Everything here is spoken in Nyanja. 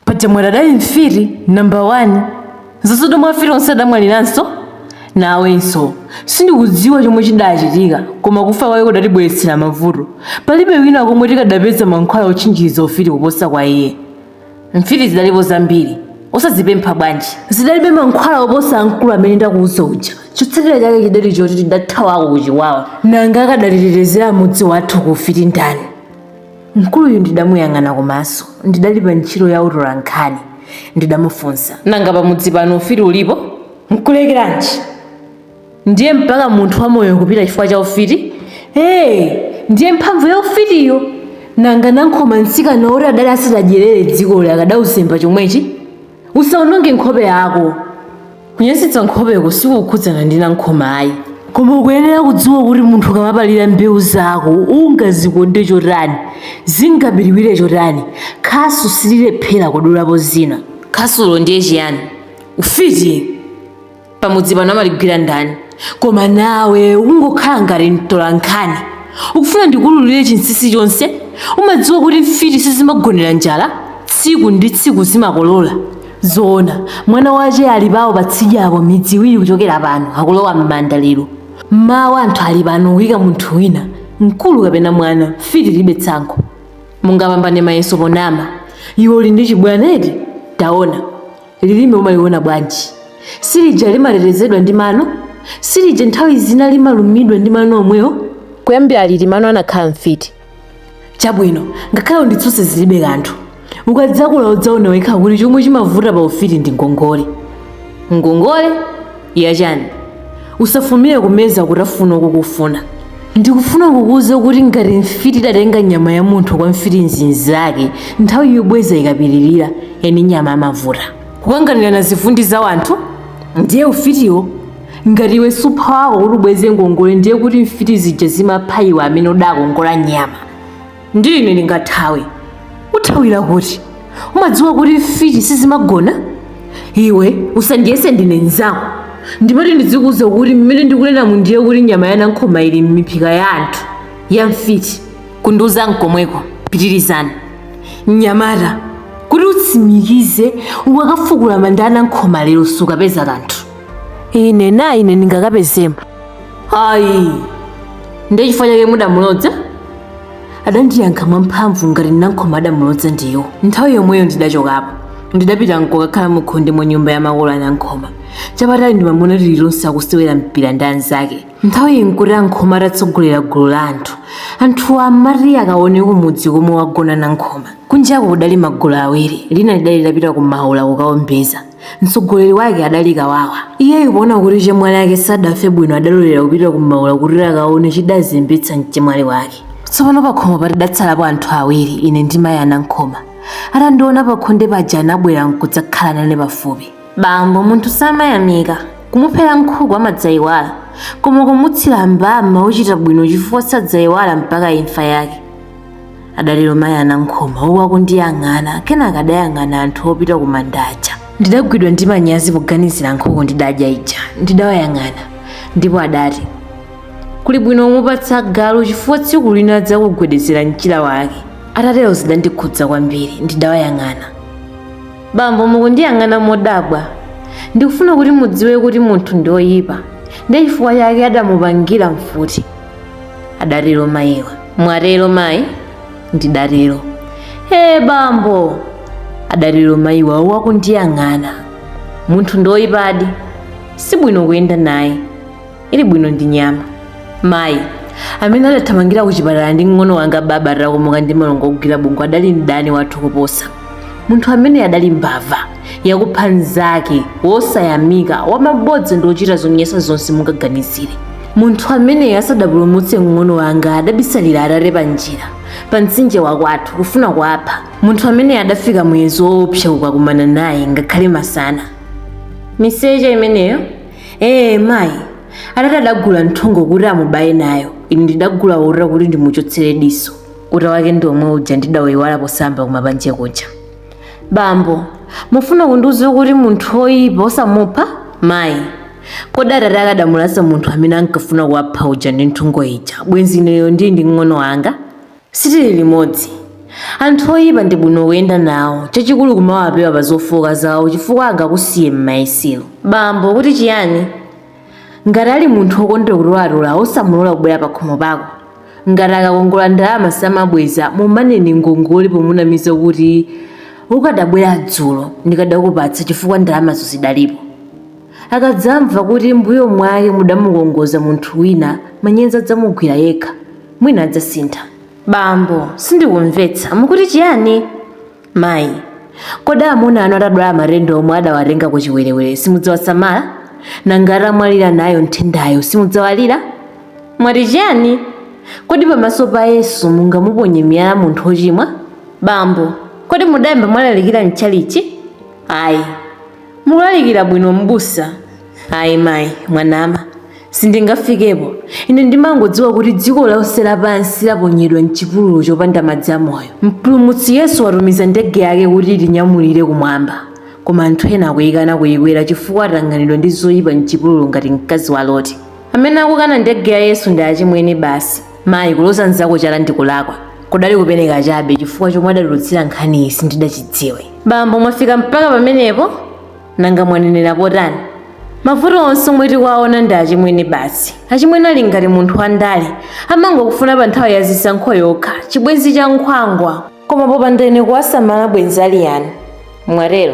paja mwati adali mfiti nambala 1 zasoto mwa mfiti onse adamwaliranso nawenso sindikudziwa chomwe chidachitika koma kufa kwake kudatibweretsera mavuto palibe wina komwe tikadapeza mankhwala otchinjiriza ufiti kuposa kwa iye mfiti zidalipo zambiri osazipempha bwanji zidalibe mankhwala oposa amkulu amene ndakuuza uja chotsatira chake chidali choti tidathawako kuchiwawa nanga akadatitetezera mudzi wathu ku ufiti ndani Mkuluyu ndidamuyang'ana komanso ndidali pa ntchito ya utolankhani. Ndidamufunsa. Nanga pamudzi pano ufiti ulipo? Nkulekeranji? Ndiye mpaka munthu wamoyo kupita chifukwa cha ufiti? Ee! Ndiye mphamvu ya ufitiyo! Nanga Nankhoma mtsikana woti adali asadadyerere dzikoli akadauzemba chomwechi? usaononge nkhope yako kunyasitsa nkhopeko sikukhudzana ndi nankhoma ayi koma ukuyenera kudziwa kuti munthu ukamapalira mbewu zako ungazikonde chotani zingabiliwire chotani khasu sililephera kudulapo zina khasulo ndiye chiyani ufiti pamudzi pano amaligwira ndani koma nawe ukungokhala ngati mtolankhani ukufuna ndikululire chinsinsi chonse umadziwa kuti mfiti sizimagonera njala tsiku ndi tsiku zimakolola zoona mwana wache ali pawo patsidya apo midzi iwiri kuchokera pano akulowa m'manda lero mawa anthu ali pano kuyika munthu wina mkulu kapena mwana mfiti ilibe tsankho mungapambane mayeso ponama iwe uli ndi chibwana eti taona Lilime umaliona bwanji? Silija limatetezedwa ndi mano? Silija nthawi zina limalumidwa ndi mano omwewo? Kuyambira liti mano anakhala mfiti? Chabwino, ngakhale unditsutse zilibe kanthu. Ukadzakula udzaona wekha kuti chomwe chimavuta pa ufiti ndi ngongole. Ngongole? yachani usafulumire kumeza kutafuna ukukufuna ndikufuna kukuuza kuti ngati mfiti idatenga nyama ya munthu kwa mfiti inzake nthawi yobweza ikapyolera eni nyama amavuta kukanganirana zivundi za wanthu ndiye ufitiwo ngati iwe suupha wako kuti ubweze ngongole ndiye kuti mfiti zija zimapha iwe amene udakongola nyama ndiye ine ndingathawe uthawira kuti umadziwa kuti mfiti sizimagona iwe usandiyese ndine nzako ndimati ndizikuuza kuti mmene ndikunena muno ndiye kuti nyama ya nankhoma ili m'miphika ya anthu ya mfiti kundiuza nkomweko pitirizani mnyamata kuti utsimikize ukakafukula manda a nankhoma lero sukapeza kanthu ine na ine ndingakapezemo ayi ndiye chifukwa chake mudamulodza adandiyankha mwamphamvu ngati nankhoma adamulodza ndiwo nthawi yomweyo ndidachokapo ndidapita nkukakhala mukhonde mwa nyumba ya makolo anankhoma chapatali ndimamuona tilitonse akusewera mpira ndi anzake nthawiyi nkuti ankhoma atatsogolera gulu la anthu anthuwa amati akaone kumudzi komwe wagona nankhoma kunjako kudali magulu awiri lina lidali litapita ku maula kukaombeza mtsogoleri wake adali kawawa iyeyu poona kuti chemwali ake sadafe bwino adalolera kupita kumaula kuti akaone chidazembetsa mchemwali wake tsopano pakhomopa tidatsalapo anthu awiri ine ndi mayi anankhoma atandiona pakhonde paja anabwera nkudzakhala nane pafupi bambo munthu samayamika kumuphera nkhuku amadzayiwala koma kumutsira mbama uchita bwino chifukwa sadzayiwala mpaka imfa yake adatero mayi anankhoma uku akundiyang'ana kenaka adayang'ana anthu opita ku manda aja ndidagwidwa ndi manyazi poganizira nkhuku ndidadya ija ndidawayang'ana ndipo adati kuli bwino kumupatsa galu chifukwa tsiku lina adzakugwedezera mchira wake atatero zidandikhudza kwambiri ndidawayang'ana bambo mukundiyang'ana modabwa ndikufuna kuti mudziwe kuti munthu ndi oyipa ndiye chifukwa chake adamupangira mfuti adatero mayiwa mwatero mayi ndidatero ee bambo adatero mayiwa uku akundiyang'ana munthu ndoyipadi si bwino kuyenda naye ili bwino ndi nyama mayi amene adathamangira kuchipatala ndi mng'ono wanga baba atakomoka ndi malungo ogwira bongo adali mdani wathu kuposa munthu amene adali mbava yakupha mnzake wosayamika wamabodza ndi wochita zonyansa zonse mungaganizire munthu ameneyo asadapulumutse mng'ono wanga adabisalira atate pa njira pa mtsinje wakwathu kufuna kuwapha munthu ameneyo adafika muyezo woopsa kukakumana naye ngakhale masana miseche imeneyo ee mayi atate adagula nthungo kuti amubaye nayo ine ndidagula uta kuti ndimuchotsere diso uta wake ndi omwe uja ndidawuyiwala posamba kumapanje kuja Bambo, mufuna kundiuza kuti munthu woyipa osamupha? Mayi, kodi atate akadamulasa munthu amene ankafuna kuwapha uja ndi nthungo ija, bwenzi ineyo ndili ndi mng'ono wanga? Sitili limodzi. Anthu oyipa ndi bwino kuyenda nawo, chachikulu kumawapewa pa zofooka zawo chifukwa angakusiye m'mayesero. Bambo, mukuti chiyani? ngati ali munthu wokondera kutolatola osamulola kubwera pakhomo pako ngati akakongola ndalama samabweza mumaneni ngongole pomunamiza kuti ukadabwera dzulo ndikadakupatsa chifukwa ndalamazo zidalipo akadzamva kuti mbuyo mwake mudamukongoza munthu wina manyazi adzamugwira yekha mwina adzasintha bambo sindikumvetsa mukuti chiyani Mayi, kodi amuna anu atadwala matenda omwe adawatenga kuchiwerewere simudzawasamala? Nanga atamwalira nayo nthendayo simudzawalira? Mwati chiyani? Kodi pamaso pa Yesu mungamuponye miyala munthu wochimwa? Bambo, kodi mudayamba mwalalikira m'tchalitchi? Ayi. Mukulalikira bwino m'busa. Ayi mayi, mwanama. Sindingafikepo. Ine ndimangodziwa kuti dziko lonse lapansi laponyedwa m'chipululu chopanda madzi amoyo. Mpulumutsi Yesu watumiza ndege yake kuti itinyamulire kumwamba, koma anthu ena akuyikana kuyikwera chifukwa atanganidwa ndi zoyipa m'chipululu ngati mkazi wa Loti. Amene akukana ndege ya Yesu ndi achimwene basi. Mayi, kuloza mnzako chala ndi kulakwa. Kudali kupeneka chabe chifukwa chomwe adatulutsira nkhaniyi sindidachidziwe. Bambo, mwafika mpaka pamenepo? Nanga mwanenerapo tani? Mavuto onse omwe tikuwaona ndi achimwene basi. Achimwene ali ngati munthu wandale, amangokufuna pa nthawi ya zisankho yokha, chibwenzi cha nkhwangwa. Koma popanda ine kuwasamala bwenzi ali yani? Mwatero?